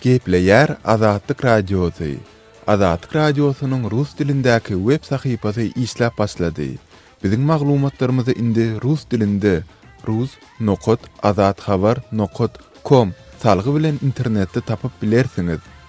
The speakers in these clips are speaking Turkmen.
Gepleýär Azatlyk Radiosy, Azatlyk Radiosynyň rus dilindäki web sahypasy işläp başlady. Biziň maglumatlarymyzy indi rus dilinde rus. Azathabar. Com salgy bilen internetde tapyp bilersiňiz.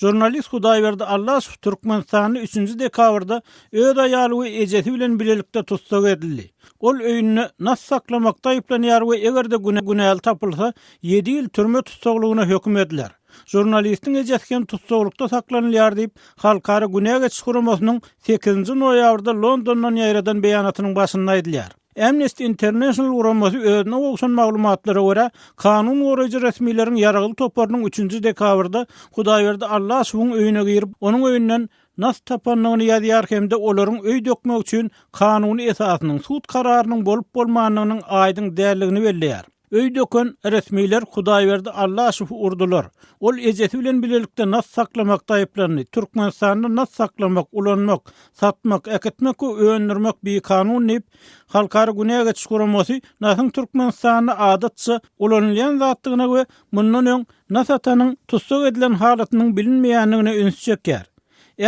Žurnalist Hudaýberdi Allasow Türkmenistanda üçünji dekabrda öz aýaly we ejesi bilen bilelikde tussag edildi. Ol öýünde nas saklamakda aýyplanýar we eger-de günäli tapylsa, ýedi ýyl türme tussaglygyna höküm ediler. Žurnalistiň ejesi hem tussaglykda saklanylýar diýip, Halkara günä geçiş guramasynyň sekizinji noýabrda Londondan ýaýradan beýanatynyň başynda aýdylýar. Amnesty International guramasy özüne gowşan maglumatlara görä, kanun goraýjy resmileriň ýaragly toparynyň üçünji dekabrda Hudaýberdi Allaşowyň öýüne girip, onuň öýünden nas tapandygyny ýazýar hem-de olaryň öý dökmek üçin kanuny esasynyň, sud kararynyň bolup-bolmandygynyň aýdyň däldigini belleýär. Öý döken resmiler Hudaýberdi Allaşowy urdular. Ol ejesi bilen bilelikde nas saklamakda aýyplandy. Türkmenistanda nas saklamak, ulanmak, satmak, äkitmek we öndürmek bikanun diýip, Halkara günä geçiş guramasy nasyň Türkmenistanda adatça ulanylýan zatdygyna we mundan öň nas atanyň tussag edilen halatynyň bilinmeýändigine ünsi çekýär.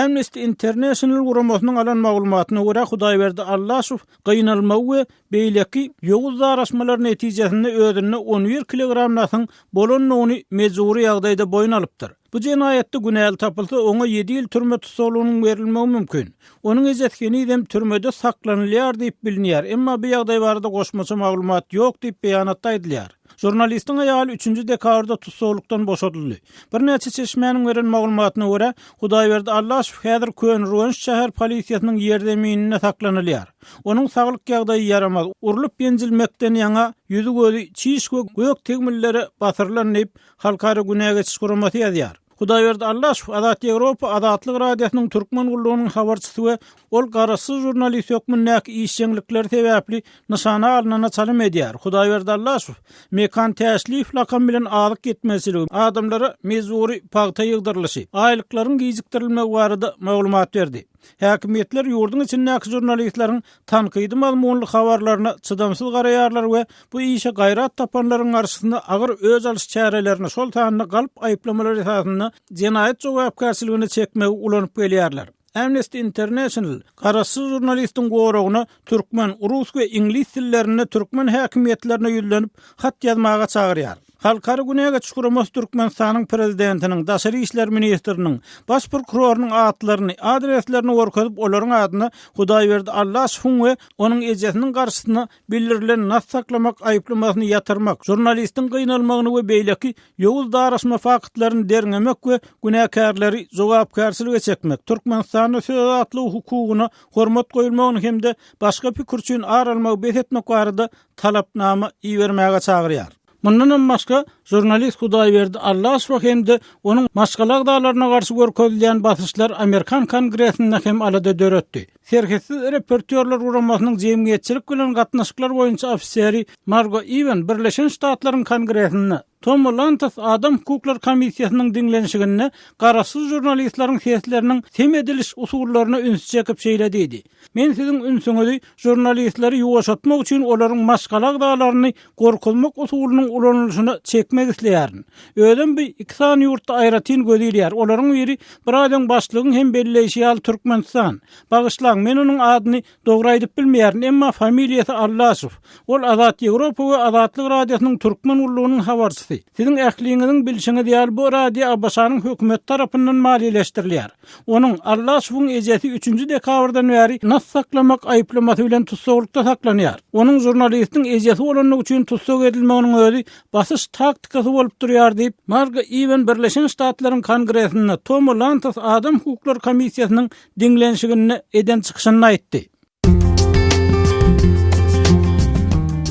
Amnesty International guramasynyň alan maglumatyna görä, Hudaýberdi Allaşow gynalmagy we Beýleki ýowuz daraşmalar netijesinde özünde on bir kilogram nasyň bolandygyny mejbury ýagdaýda boýun alypdyr. Bu jenaýatda günäli tapylsa, oňa ýedi ýyl türme tussaglygynyň berilmegi mümkin. Onuň ejesi henizem türmede saklanylýar diýip bilinýär, emma bu ýagdaý barada goşmaça maglumat ýok diýip beýanatda aýdylýar. Žurnalistiň aýaly üçünji dekabrda tussaglykdan boşadyldy. Birnäçe çeşmäniň beren maglumatyna görä, Hudaýberdi Allaşow häzir Köneürgenç şäher polisiýasynyň ýerzemininde saklanylýar. Onuň saglyk ýagdaýy ýaramaz, urlup-ýenjilmekden ýaňa ýüzi-gözi çiş we gök tegmillere basyrylan diýip, Halkara günä geçiş guramasy ýazýar. Hudaýberdi Allaşow, Azat Ýewropa, Azatlyk Radiosynyň Türkmen gullugynyň habarçysy we ol garaşsyz žurnalist hökmündäki işjeňlikleri sebäpli nyşana alnana çalym edýär. Hudaýberdi Allaşow, Mekan Täşliýew lakamy bilen azyk ýetmezçiligi, adamlara mejbury pagta ýygdyrylyşy, aýlyklaryň gijikdirilmegi barada maglumat berdi. Häkimiýetler ýurduň içindäki žurnalistleriň tankydy mazmunly habarlaryna çydamsyz garaýarlar we bu işe gaýrat tapanlaryň garşysyna agyr öç alyş çärelerini, şol sanda galp aýyplamalar esasynda jenaýat jogapkärçiligine çekmegi ulanyp gelýärler. Amnesty International garaşsyz žurnalistiň goragyna türkmen, rus we iňlis dillerinde türkmen häkimiýetlerine ýüzlenip hat ýazmaga çagyrýar. Halkara günege çukuramaz Türkmenistanyň Prezidentiniň, Daşary işler ministriniň, Baş prokurorynyň atlaryny, adreslerini görkezip olaryň adyna Hudaýberdi Allaşowyň we onuň ejesiniň garşysyna bildirilen nas saklamak aýyplamasyny ýatyrmak, žurnalistiň gynalmagyny we beýleki ýowuz daraşma faktlaryny derňemek we günäkärleri jogapkärçilige çekmek Türkmenistanda söz azatlygy hukugyna hormat goýulmagyny hem-de başga pikir üçin ar almagy bes etmek barada talapnama ibermäge çagyrýar. Mundanam başga, žurnalist Hudaýberdi Allaşowa hem-de onuň maşgala agzalaryna garşy görkezilýän basyşlar amerikan Kongresinde hem alada döretdi. Serhetsiz reportýorlar guramasynyň jemgyýetçilik bilen gatnaşyklar boýunça ofiseri Margo Iwen Birleşen Ştatlaryň Kongresinde, Tom Lantos Adam hukuklar komissiýasynyň diňlenişiginde garaşsyz žurnalistleriň sesleriniň sem ediliş usullaryna üns çekip şeýle diýdi, Men siziň ünsüňizi žurnalistleri ýuwaşatmak üçin olaryň maşgala agzalaryny gorkuzmak usulynyň ulanylyşyna çekmek isleýärin. Özem bu iki sany ýurtda aýratyn göze ilýär, olaryň biri biraz öň başlygyň hem belleýşi ýaly Türkmenistan. Bagyşlaň, men onuň adyny Dogry aýdyp bilmeýärin, emma familiýasy Allaşow. Ol Azat Ýewropa we Azatlyk Radiosynyň Türkmen gullugynyň habarçysy. Siziň ähliňiziň bilşiňiz ýaly bu radio ABŞ-nyň hökümeti tarapyndan maliýeleşdirilýär. Onuň, Allaşowyň ejesi üçünji dekabrdan bäri nas saklamak aýyplamasy bilen tussaglykda saklanýar. Onuň žurnalistiň ejesi bolandygy üçin tussag edilmeginiň özi basyş taktikasy bolup durýar diýip, Margo Iwen Birleşen Ştatlaryň Kongresinde Toma Lantos Adam hukuklary komissiýasynyň diňlenişiginde eden çykyşynda aýtdy.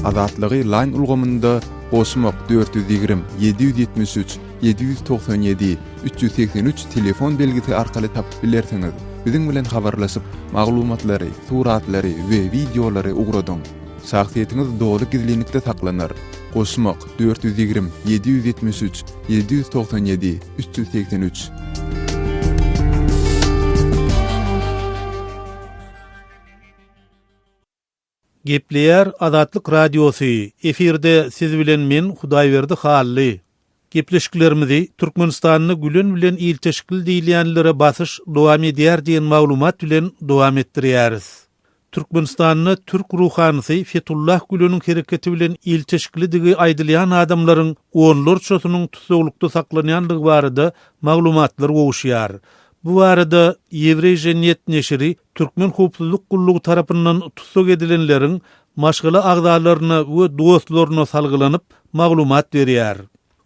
Azatlygy Line ulgamynda goşmak dört ýüz ýigrimi, ýedi ýüz ýetmiş üç, ýedi ýüz togsan ýedi, üç ýüz segsen üç telefon belgisi arkaly tapyp bilersiňiz. Biziň bilen habarlaşyp, maglumatlary, suratlary we wideolary ugradyň. Şahsyýetiňiz doly gizlinlikde saklanar. Goşmak. dört ýüz ýigrimi, ýedi ýüz ýetmiş üç, ýedi ýüz togsan ýedi, üç ýüz segsen üç. Gepleýär Azatlyk Radiosy, efirde siz bilen men Hudaýberdi Hally. Gepleşiklerimizi Türkmenistanda Gülen bilen ilteşikli diýilýänlere basyş dowam edýär diýen maglumat bilen dowam etdirýäris. Türkmenistanda türk ruhanysy Fetullah Güleniň hereketi bilen ilteşiklidigi aýdylýan adamlaryň onlarçasynyň tussaglykda saklanýandygy barada maglumatlar gowuşýar. Bu barada Ýewreýža Net neşiri Türkmen howpsuzlyk gullugy tarapyndan tussag edilenleriň maşgala agzalaryna we dostlaryna salgylanyp, maglumat berýär.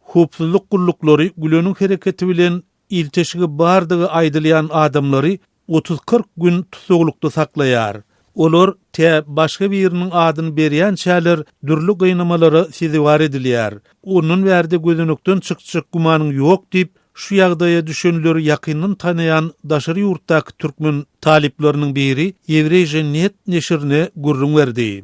Howpsuzlyk gulluklary Güleniň hereketi bilen ilteşigi bardygy aýdylýan adamlary otuz-kyrk gün tussaglykda saklaýar. Olar tä başga biriniň adyny berýänçäler dürli gynamalara sezewar edilýär. Ondan bärde gözenekden çykjak gümanyň ýok diýip, şu ýagdaýa düşenleri ýakyndan tanaýan daşary ýurtdaky türkmen talyplarynyň biri Ýewreýža. Net neşirine gürrüň berdi.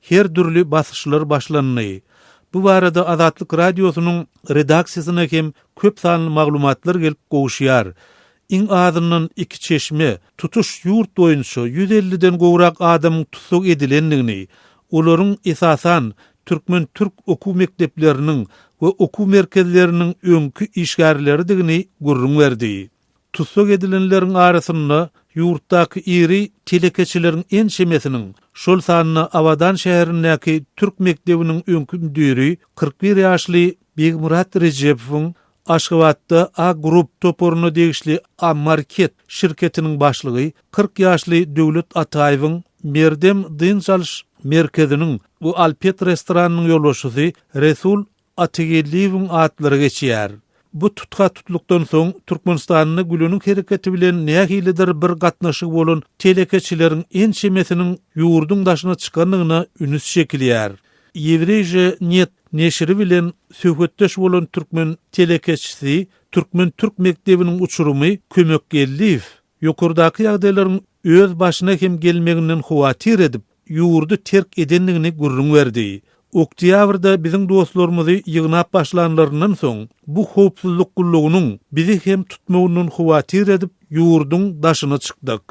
Her dürli basyşlar başlandy. Bu barada Azatlyk Radiosynyň redaksiýasyna hem köp sanly maglumatlar gelip gowuşýar. Iň azyndan iki çeşme tutuş ýurt boýunça ýüz elliden gowrak adamyň tussag edilendigini, olaryň, esasan, türkmen-türk okuw mekdepleriniň we okuw merkezleriniň öňki işgärleridigini gürrüň berdi. Tussag edilenleriň arasynda ýurtdaky iri telekeçileriň ençemesiniň, şol sanda Abadan şäherindäki türk mekdebiniň öňki müdiri kyrk bir ýaşly Begmyrat Rejepowyň, Aşgabatda A Group toparyna degişli A-Market şirketiniň başlygy kyrk ýaşly Döwlet Ataýewiň, Merdem dynç alyş merkeziniň we Alpet restoranynyň ýolbaşçysy Resul Atageldiýewiň atlary geçýär. Bu tutha-tutlukdan soň Türkmenistanda Gülüniň hereketi bilen nähilidir bir gatnaşygy bolan telekeçileriň ençemesiniň ýurduň daşyna çykandygyna ünüs çekilýär. Ýewreýžýa net neşiri bilen söhbetdeş bolan türkmen telekeçisi, Türkmen-türk mekdebiniň uçurymy Kömekgeldiýew ýokardaky ýagdaýlaryň öz başyna hem gelmeginden howatyr edip, ýurdy terk edendigini gürrüň berdi. Oktýabrda biziň dostlarymyzy ýygnap başlanlaryndan soň, bu howpsuzlyk gullugynyň bizi hem tutmagyndan howatyr edip, ýurduň daşyna çykdyk.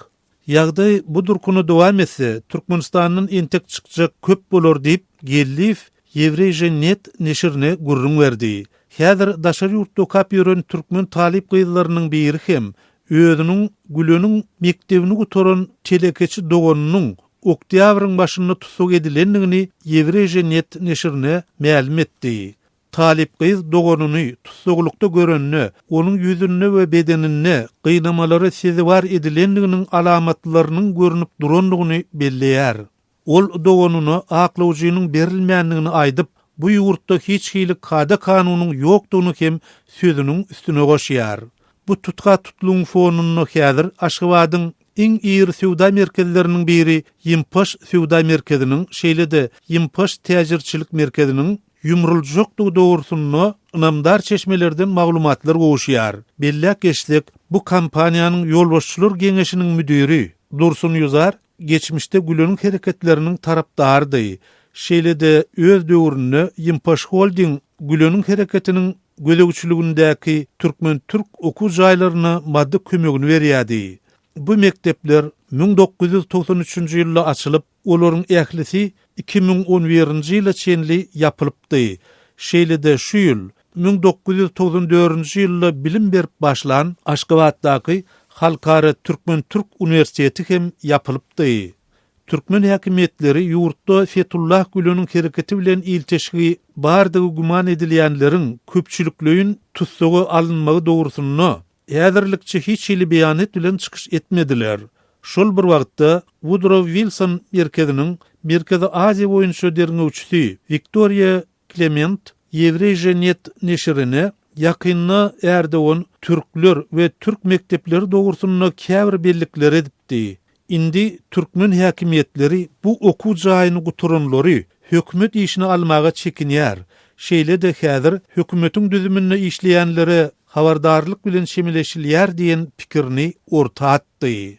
Ýagdaý bu durkuna dowam etse, Türkmenistandan entek çykjak köp bolar diýip, Geldiýew Ýewreýže net neşirine gürrüň berdi. Häzir daşary ýurtda okap ýören türkmen talyp gyzlarynyň biri hem özüniň Güleniň mekdebini gutaran telekeçi doganynyň oktýabryň başynda tussag edilendigini Ýewreýže net neşirine mälim etdi. Talyp gyz doganyny tussaglykda görende, onuň ýüzünde we bedeninde gynamalara sezewar edilendiginiň alamatlarynyň görnüp durandygyny belleýär. Ol doganyna aklawjynyň berilmändigini aýdyp, bu ýurtda hiç hili kada-kanunyň ýokdugyny hem sözüniň üstüne goşýar. Bu tutka-tutlugyň fonunda häzir Aşgabadyň iň iri söwda merkezleriniň biri Ýimpaş söwda merkeziniň, şeýle-de Ýimpaş täjirçilik merkeziniň ýumruljakdygy dogrusynda ynamdar çeşmelerden maglumatlar gowuşýar. Belläp geçsek, bu kompaniýanyň ýolbaşçylar geňeşiniň müdiri Dursun Ýuzar Geçmişde Güleniň hereketleriniň tarapdarydy. Şeýle-de öz döwründe Ýimpaş Holding Güleniň hereketiniň gözegçiligindäki türkmen-türk okuw jaýlaryna maddy kömegini berýärdi. Bu mekdepler müň dokuz ýüz togsan üçünji ýylda açylyp, olaryň ählisi iki müň on birinji ýyla çenli ýapylypdy. Şeýle-de şu ýyl Müň dokuz ýüz togsan dördünji ýylda bilim berip başlan Aşgabatdaky Halkara türkmen-türk uniwersiteti hem ýapylypdy. Türkmen häkimiýetleri ýurtda Fetullah Güleniň hereketi bilen ilteşigi bardygy güman edilýänleriň köpçülikleýin tussaga alynmagy dogrusynda häzirlikçe hiç hili beýanat bilen çykyş etmediler. Şol bir wagtda, Wudrow Wilson merkeziniň Merkezi Aziýa boýunça derňewçisi Wiktoriýa Klement Ýewreýženet neşirine ýakynda Ärdogan türkler we türk mekdepleri dogrusynda käbir bellikleri edipdi. Indi türkmen häkimiýetleri bu okuw jaýyny gutaranlary hökümet işine almaga çekinýär, şeýle-de häzir hökümetiň düzüminde işleýänlere habardarlyk bilen çemeleşilýär diýen pikirini orta atdy.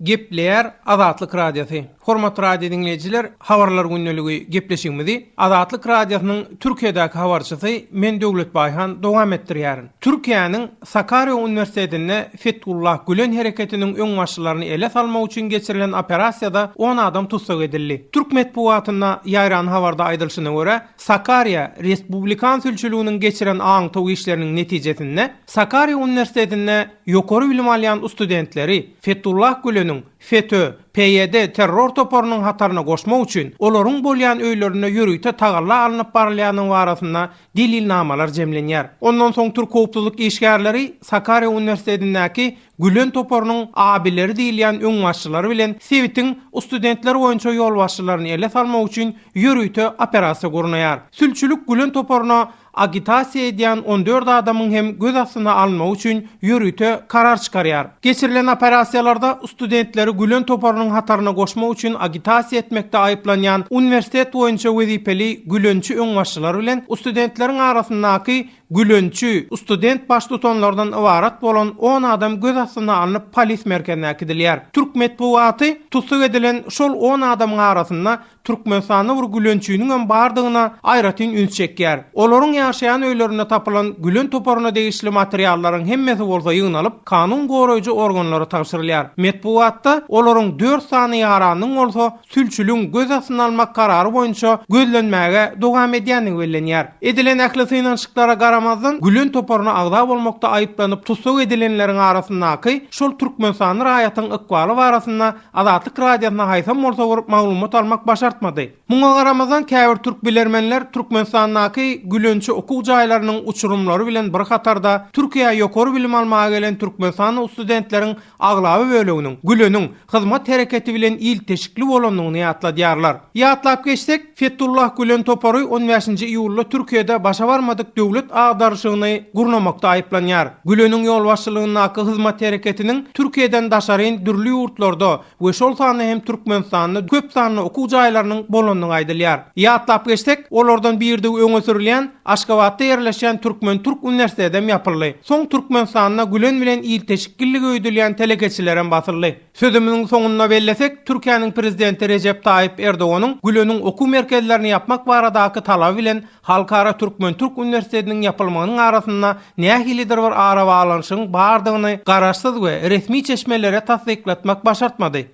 Gepleýär Azatlyk Radiosy. Hormatly radio diňleýjiler, Habarlar gündeligi gepleşigimizi Azatlyk Radiosynyň Türkiýedäki habarçysy men Döwlet Baýhan dowam etdirýärin. Türkiýäniň Sakarýa uniwersitetinde Fethullah Gülen hereketiniň öňbaşçylaryny ele salmak üçin geçirilen operasiýada on adam tussag edildi. Türk metbugatynda ýaýran habarda aýdylşyna görä, Sakarýa respublikan sülçüliginiň geçiren aňtaw işleriniň netijesinde, Sakarýa uniwersitetinde ýokary bilim alýan ustudentleri Fethullah Güleniň, FETÖ, PYD terror toparynyň hataryna goşmak üçin olaryň bolýan öýlerinde ýörite tagalla alnyp barylýandygy barasynda delilnamalar jemlenýär. Ondan soň türk howpsuzlyk işgärleri Sakarýa uniwersitetindäki Gülen toparynyň abileri diýilýän öňbaşçylary bilen sebitiň ustudentler boýunça ýolbaşçylaryny ele salmak üçin ýörite operasiýa gurnaýar. Sülçülik Gülen toparyna agitasiýa edýän on dört adamyň hem göz astyna alynmagy üçin ýörite karar çykarýar. Geçirilen operasiýalarda studentleri Gülen toparynyň hataryna goşmak üçin agitasiýa etmekde aýyplanýan uniwersitet boýunça wezipeli Gülençi öňbaşçylar bilen studentleriň arasyndaky Gülençi, student baştutanlardan ybarat bolan on adam göz astyna alnyp polis merkezine äkidilýär. Türk metbugaty tussag edilen şol on adamyň arasynda Türkmenistanda bir gülençiniňem bardygyna aýratyn üns çekýär. Olaryň ýaşaýan öýlerinde tapylan gülen toparyna degişli materiallaryň hemmesi bolsa ýygnalyp, kanun goraýjy organlara tabşyrylýar. Metbugatda olaryň dört sany ýaranyň bolsa sülçüligiň göz astyna almak karary boýunça gözlenmäge dowam edýändigi bellenýär. Edilen ähli synanyşyklara garamazdan, gülen toparyna agza bolmakda aýyplanyp tussag edilenleriň arasyndaky şol türkmenistanly raýatyň ykbaly barasynda Azatlyk Radiosyna haýsam bolsa bir maglumat almak başartmady. Muňa garamazdan, käbir türk bilermenler Türkmenistandaky Gülençi okuw jaýlarynyň uçurymlary bilen bir hatarda Türkiýä ýokary bilim almaga gelen türkmenistanly ustudentleriň aglaba böleginiň Güleniň hyzmat hereketi bilen ilteşikli bolandygyny ýatladýarlar. Ýatlap geçsek, Fethullah Gülen topary on bäşinji iýulda Türkiýede başa barmadyk döwlet agdaryşygyny gurnamakda aýyplanýar. Güleniň ýolbaşçylygyndaky Hyzmat hereketiniň Türkiýeden daşaryn dürli ýurtlarda we şol sanda hem Türkmenistanda köp sanly okuw jaýlarynyň bolandygy aýdylýar. Ýatlap geçsek, olardan birdigi öňe sürülýän Aşgabatda ýerleşýän Türkmen-türk uniwersitedem ýapyldy. Soň Türkmenistanda Gülen bilen ilteşik gillige öýdülýän telekeçilerem basyldy. Sözümiziň soňunda bellesek, Türkiýäniň Prezidenti Rejep Taýyp Erdoganyň Güleniň okuw merkezlerini ýapmak baradaky talaby bilen Halkara türkmen-türk uniwersitetiniň ýapylmagynyň arasynda nähilidir bir arabaglanyşygyň bardygyny garaşsyz we resmi çeşmelere tassyklatmak başartmady.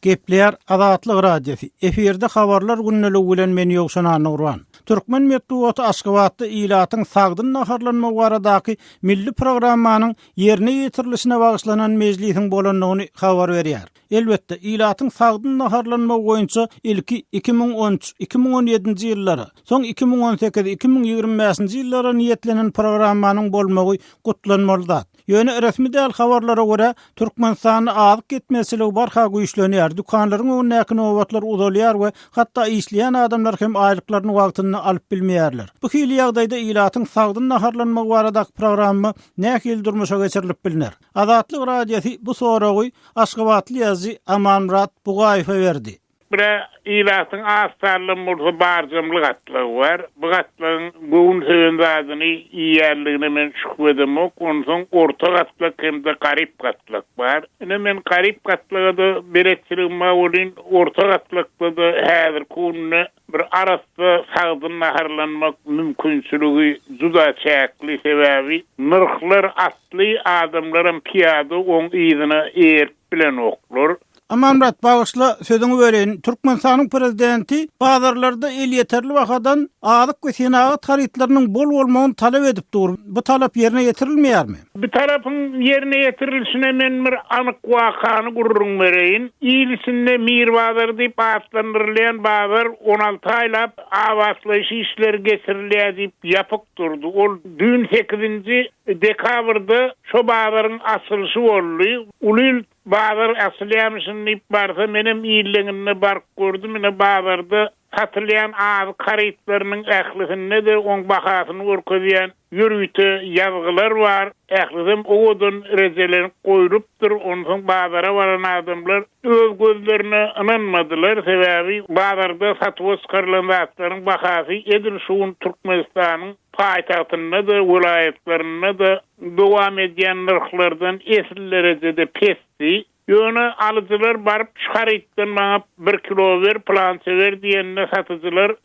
Gepleýär Azatlyk Radiosy, efirde Habarlar gündeliigi bilen men Ýowşan Annagurban. Türkmen metbugaty Aşgabatda ilatyň sagdyn naharlanmagy baradaky milli programmanyň ýerine ýetirilişine bagyşlanan mejlisiň bolandygyny habar berýär. Elbetde, ilatyň sagdyn naharlanmagy boýunça ilki iki müň on üç, iki müň on ýedinji ýyllara, soň iki müň on sekiz, iki müň ýigrimi bäşinji ýyllara niýetlenen programmanyň bolmagy gutlanmaly zat. Ýöne resmi däl habarlara görä, Türkmenistanda azyk ýetmezçiligi barha güýçlenýär, dükanlaryň öňündäki nobatlar uzalýar we hatda işleýän adamlar hem aýlyklaryny wagtynda alyp bilmeýärler. Bu hili ýagdaýda ilatyň sagdyn naharlanmagy baradaky programma nähili durmuşa geçirilip bilner? Azatlyk Radiosy bu soragy aşgabatly ýazyjy Amanmyrat Bugaýewe berdi. Bire ilatyň az sanly murza barjamly gatlagy bar. Bu gatlagyň göwün söýen zadyny iýýänligine men şübhe edemok. Onsoň orta gatlak hem-de garyp gatlak bar. Ine, men garyp gatlaga-da beletçiligim bar welin, orta gatlakda-da häzirki günde Bir arassa sagdyn naharlanmak mümkinçiligi juda çäkli, sebäbi nyrhlar atly adamlaram pyýada oň yzyna eýerip bilenoklar. Amanmyrat, bagyşla, sözüňi böleýin. Türkmenistanyň prezidenti bazarlarda elýeterli bahadan azyk we senagat harytlarynyň bol bolmagyny talap edip dur. Bu talap ýerine ýetirilmeýärmi? Bu talapyň ýerine ýetirilişine men bir anyk wakany gürrüň bereýin. Il içinde Mir bazary diýip atlandyrylýan bazar on alty aýlap abatlaýyş işleri geçirilýär diýip ýapyk durdy. Ol düýn sekizinji dekabrda şo bazaryň açylyşy boldy. Ulyl bazar açylýamyşyn diýip barsa menem illeňinde baryp gördüm. Ine bazarda satylýan azyk harytlarynyň ählisinde-de oň bahasyny görkezýän Ýörite ýazgylar bar, ählisem owadan rejelenip goýlupdyr, onsoň bazara baran adamlar öz gözlerine ynanmadylar, sebäbi bazarda satuwa çykarylan zatlaryň bahasy edil şu gün Türkmenistanyň paýtagtynda-da, welaýatlarynda-da dowam edýän nyrhlardan esli derejede pesdi. Ýöne alyjylar baryp şu harytdan maňa bir kilo ber, pylança ber diýende satyjylar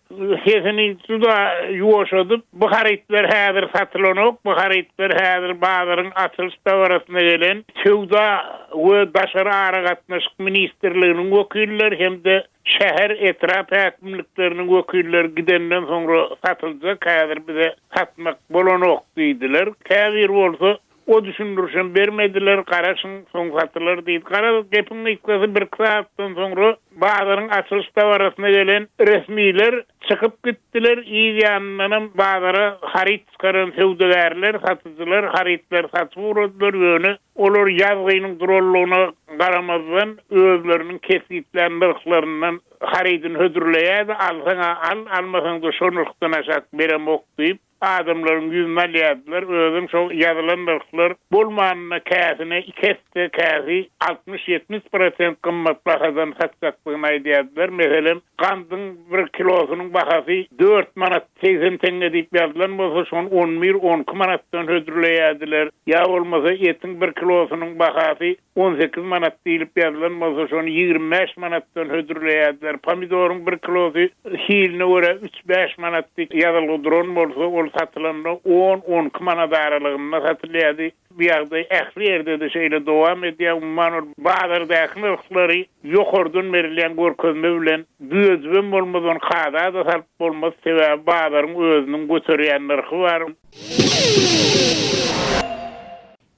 sesini juda ýuwaşadyp, bu harytlar häzir satylanok, bu harytlar häzir bazaryň açylyş dabarasyna gelen Söwda we daşary aragatnaşyk ministrliginiň wekilleri hem-de şäher, etrap häkimlikleriniň wekilleri gidenden soňra satyljak, häzir bize satmak bolanok diýdiler. Käbir bolsa O düşündirişem bermediler, garaşyň, soň satylar diýdi. Garaz, gepiň gysgasy birki sagatdan soňra bazaryň açylyş dabarasyna gelen resmiler çykyp gitdiler, yz ýanyndanam bazara haryt çykaran söwdagärler, satyjylar harytlary satyp ugradylar, ýöne olar ýazgynyň durallygyna garamazdan özleriniň kesgitlän nyrhlaryndan harydyny hödürleýärdi, alsaň-a al, almasaň-da şo nyrhdan aşak beremok diýip. Adamlaryň ýüzüni alýardylar, özem şol ýazylan nyrhlar bolmanda käsini iki esse, käsi altmyş-ýetmiş prosent gymmat bahadan satjakdygyny aýdýardylar. Meselem, gandyň bir kilosynyň bahasy dört manat segsen teňňe diýip ýazylan bolsa, şony on bir, on iki manatdan hödürleýärdiler. Ýa bolmasa, etiň bir kilosynyň bahasy on sekiz manat diýlip ýazylan bolsa, şony ýigrimi bäş manatdan hödürleýärdiler. Pomidoryň bir kilosy hiline görä üç-bäş manat diýip ýazylgy duran bolsa, ol satylanda on-on iki manat aralygynda satylýardy. Bu ýagdaý ähli ýerde-de şeýle dowam edýär. Umuman, ol bazardaky nyrhlary ýokardan berilýän görkezme bilen düzedibem bolmaz, ony kada-da salyp bolmaz, sebäbi bazaryň özüniň göterýän nyrhy bar.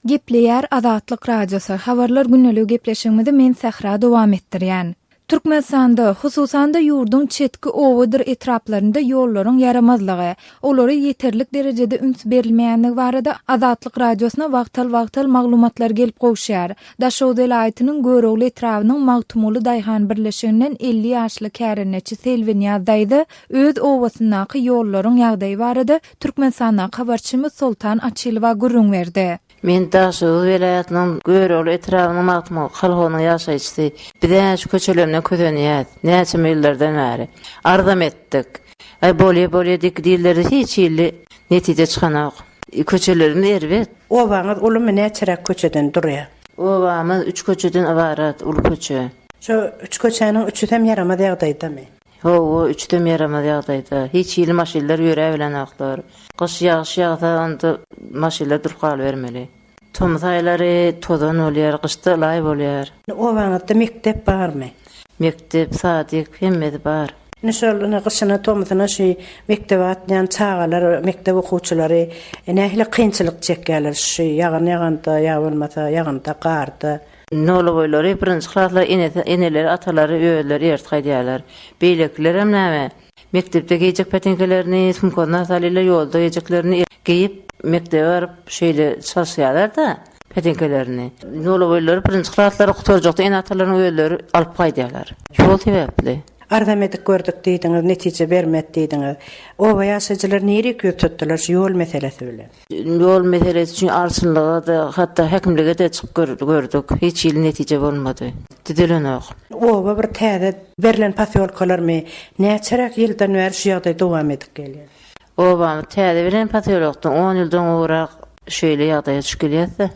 Gepleýär Azatlyk Radiosy, Habarlar gündeligi gepleşigimizi men Sähra dowam etdirýän. Türkmenistanda, hususan-da ýurduň çetki obadyr etraplarynda ýollaryň ýaramazlygy, olara ýeterlik derejede üns berilmeýändigi barada Azatlyk Radiosyna wagtal-wagtal maglumatlar gelip gowuşýar. Daşoguz welaýatynyň Görogly etrabynyň Magtymguly daýhan birleşiginden elli ýaşly kärendeçi Selbinýaz daýza öz obasyndaky ýollaryň ýagdaýy barada Türkmenistandan habarçymyz Soltan Açylowa gürrüň berdi. Men Daşoguz welaýatynyň Görogly etrabynyň Magtymguly kolhozynyň ýaşaýjysy. Biz-ä şu köçelerinden kösenýäs. Näçe ýyllardan bäri. Arzam etdik. Aý, bolýa-bolýa diýki diýildirdi, hiç hili netije çykanok. Köçelerimiz erbet. Obaňyz ulumy, näçeräk köçeden durýar? Obamyz üç köçeden ybarat, uly köçe. Şu üç köçäniň üçüsem ýaramaz ýagdaýdamy? Howa üçdem ýaramaz ýagdaýda. Hiç hili maşynlar ýöräbilenoklar. Gyş ýagyş ýagsa, onda maşynlar durup galybermeli. Tomus aýlary tozan bolýar, gyşda ylaý bolýar. Obaňyzda mekdep barmy? Mekdep, sadyk hemmesi bar. Indi şol ine gyşyna, tomusyna şu mekdebe atýan çagalar, mekdep okuwçylary nähili kynçylyk çekýärler şu ýagyn ýaganda ýa bolmasa ýagynda, garda? Nolaboýlary birinji klaslar enesi, eneleri, atalary özleri ertgi aýdýarlar. Beýlekilerem näme? Mekdepde geýjek peteňkelerini sumkasyna salýarlar, ýolda geýjeklerini geýip, mekdebe baryp, şeýle çalyşýarlar-da, peteňkelerini. Nolaboýlary birinji klaslar gutarjakda ene-atalarynyň özleri alyp gaýdýarlar. Şol sebäpli. Arzamedik gördük diýdiňiz, netije bermedi diýdiňiz. Oba ýaşaýjylary nirek ýüz tutdular şu ýol meselesi bilen? Ýol meselesi üçin arçynlyga-da, hatda häkimlige-de çykyp gördük. Hiç hili netije bolmady. Düzelenok. Oba bir täze berlen posýolkalarmy? Näçeräk ýyldan bäri şu ýagdaý dowam edip gelýär? Obamyz täze berlen posýolokdan on ýyldan gowrak şeýle ýagdaýa düşüp gelýäs-de.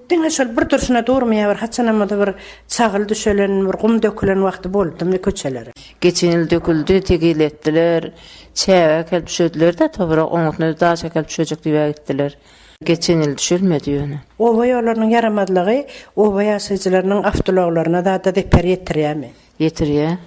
Diňe şol bir durşuna durmaýar, bir haçanam-da bir çagyl düşelen, bir gum dökülen wagty boldumy köçelere? Geçen ýyl döküldi, tegil etdiler. Çäge äkelip düşediler-de, tobrak oňatna bir daş äkelip düşejek diýibä gitdiler. Geçen ýyl düşelmedi ýöne. Oba ýollarynyň ýaramazlygy oba ýaşaýjylarynyň awtoulaglaryna zada zeper ýetirýärmi? Ýetirýär.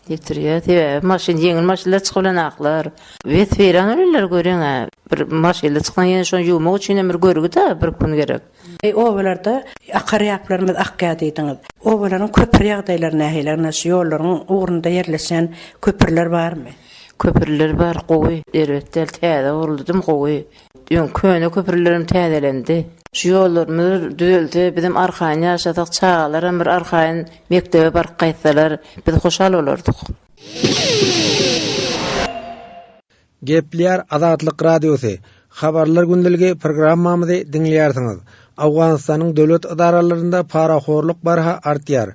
Getirýär, sebäbi maşyn ýeňil maşynlar çykyp bilen aklar. Wesfiraňy bilenler göreňä, bir maşynly çyksaň ýene şony ýuwmak üçinem bir görgi-dä, bir gün gerek. Eý, obalarda akar ýaplarymyz akýar diýdiňiz. Obalaryň köpri ýagdaýlary nähili? Ynha, şu ýollaryň ugrunda ýerleşen köprüler barmy? Köprüler bar, gowy. Erbet däl, täze gurludy, gowy. Öň köne köprülerem täzelendi. Şu ýollarymyzy bir düzelse, bizem arkaýyn ýaşasak, çagalaram bir arkaýyn mekdebe baryp gaýtsalar, biz hoşal bolardyk. Gepleýär Azatlyk Radiosy, Habarlar gündeligi programmamyzy diňleýärsiňiz. Owganystanyň döwlet edaralarynda parahorluk barha artýar.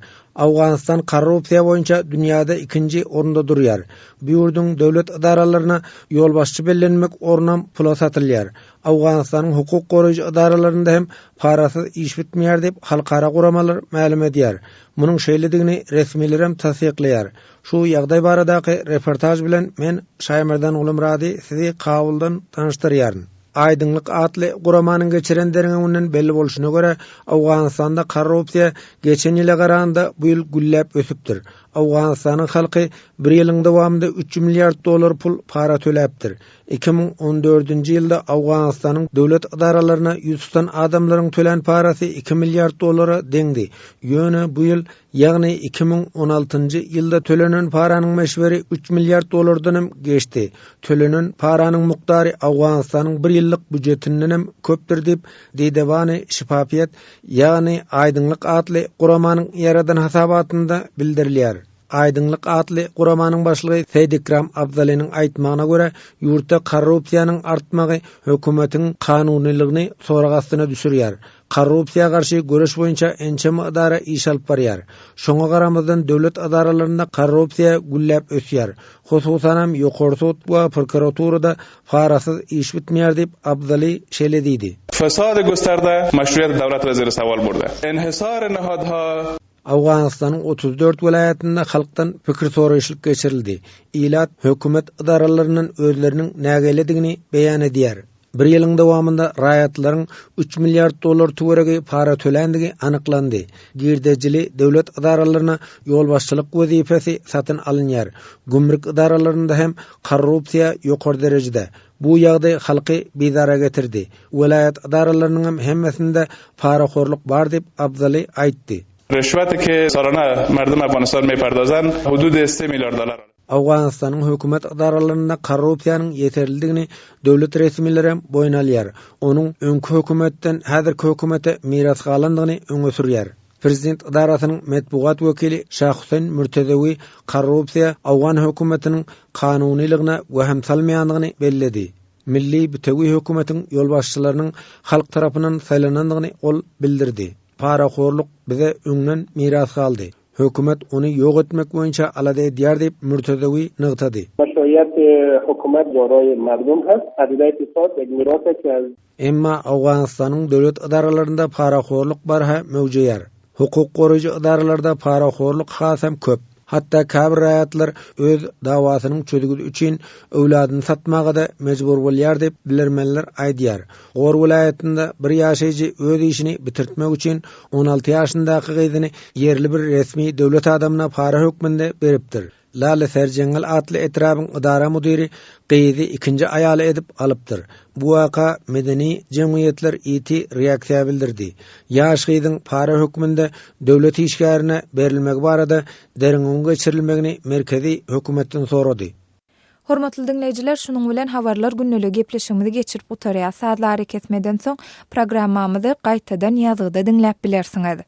Awganystan korrupsiýa boýunça dünýäde ikinji orunda durýar. Bu ýurduň döwlet ydaralaryna ýolbaşçy bellenmek ornam pula satylýar. Awganystanyň hukuk goraýjy edaralarynda hem parasyz iş bitmeýär diýip halkara guramalar mälim edýär. Munuň şeýledigini resmilerem tassyklaýar. Şu ýagdaý baradaky reportaž bilen men Şaýmerdan Gulumyrady sizi Kabuldan tanyşdyrýaryn. Aýdyňlyk atly guramanyň geçiren derňewinden belli bolşuna görä, Owganystanda korrupsiýa geçen ýyla garanda bu ýyl gülläp ösüpdir. Owganystanyň halky bir ýylyň dowamynda üç milliard dollar pul para töläpdir. Iki müň on dördünji ýylda Owganystanyň döwlet ydaralaryna ýüz tutan adamlaryň tölän parasy iki milliard dollara deňdi, ýöne bu ýyl Ýagny iki müň on altynjy ýylda tölenen paranyň möçberi üç milliard dollardan hem geçdi. Tölenen paranyň mukdary Owganystanyň bir ýyllyk býujetindan hem köpdür diýip, Deydewani Şifafiýat, ýagny Aýdyňlyk atly guramanyň ýaradan hasabatynda bildirilýär. Aýdyňlyk atly guramanyň başlygy Seýdikram Abzaliniň aýtmagyna görä, ýurtda korrupsiýanyň artmagy hökümetiň kanunylygyny sorag astyna düşürýär. Korrupsiýa garşy göreş boýunça ençeme edara iş alyp barýar. Şoňa garamazdan döwlet edaralarynda korrupsiýa gülläp ösýär. Hususanam Ýokary sud we prokuraturada parasyz iş bitmeýär diýip, Abzali şeýle diýdi. Fesady gösterde, meşruýet döwlet weziri sowal burdy. Enhisary nahadha? Owganystanyň otuz dört welaýatynda halkdan pikir soraýyşlyk geçirildi. Ilat hökümet edaralaryndan özleriniň nägiledigini beýan edýär. Bir ýylyň dowamynda raýatlaryň üç milliard dollar töweregi para töländigi anyklandy. Girdejili döwlet edaralaryna ýolbaşçylyk wezipesi satyn alynýar. Gümrük edaralarynda hem korrupsiýa ýokary derejede. Bu ýagdaý halky bizara getirdi. Welaýat edaralarynyňam hemmesinde parahorluk bar diýip, Abzaly aýtdy. Rüşwet iki sorana merdum Afganistan meyperdozan hududy esti milyardalar. Owganystanyň hökümet edaralarynda korrupsiýanyň ýeterlidigini döwlet resmileri hem boýun alýar, onuň öňki hökümetden häzirki hökümete miras galandygyny öňe sürýär. Prezident edarasynyň metbugat wekili Şahuseýn Mürtezewi korrupsiýa owgan hökümetiniň kanunylygyna wehim salmaýandygyny belledi. Milli bitewi hökümetiň ýolbaşçylarynyň halk tarapyndan saýlanandygyny ol bildirdi. Parahorluk bize öňden miras galdy. Hökümet ony ýok etmek boýunça alada edýär diýip, Murtazawi nygtady. Emma Owganystanyň döwlet edaralarynda parahorluk barha möwjeýär. Hukuk goraýjy edaralarda parahorluk hasam köp. Hatda käbir raýatlar öz dawasynyň çözgüdi üçin öwladyny satmaga-da mejbur bolýar diýip, bilermenler aýdýar. Gor welaýatynda bir ýaşaýjy öz işini bitirtmek üçin on alty ýaşyndaky gyzyny ýerli bir resmi döwlet adamyna para hökmünde beripdir. Lale Serjeňňil atly etrabyň ydara müdiri gyzy ikinji aýaly edip alypdyr. Bu waka medeni jemgyýetler ýiti reaksiýa bildirdi. Ýaş gyzyň para hökmünde döwlet işgärine berilmegi barada derňewiň geçirilmegini merkezi hökümetden sorady. Hormatly diňleýjiler, şunuň bilen Habarlar gündeligi gepleşigimizi geçirip gutarýas. Sazly arakesmeden soň programmamyzy gaýtadan ýazgyda diňläp bilersiňiz.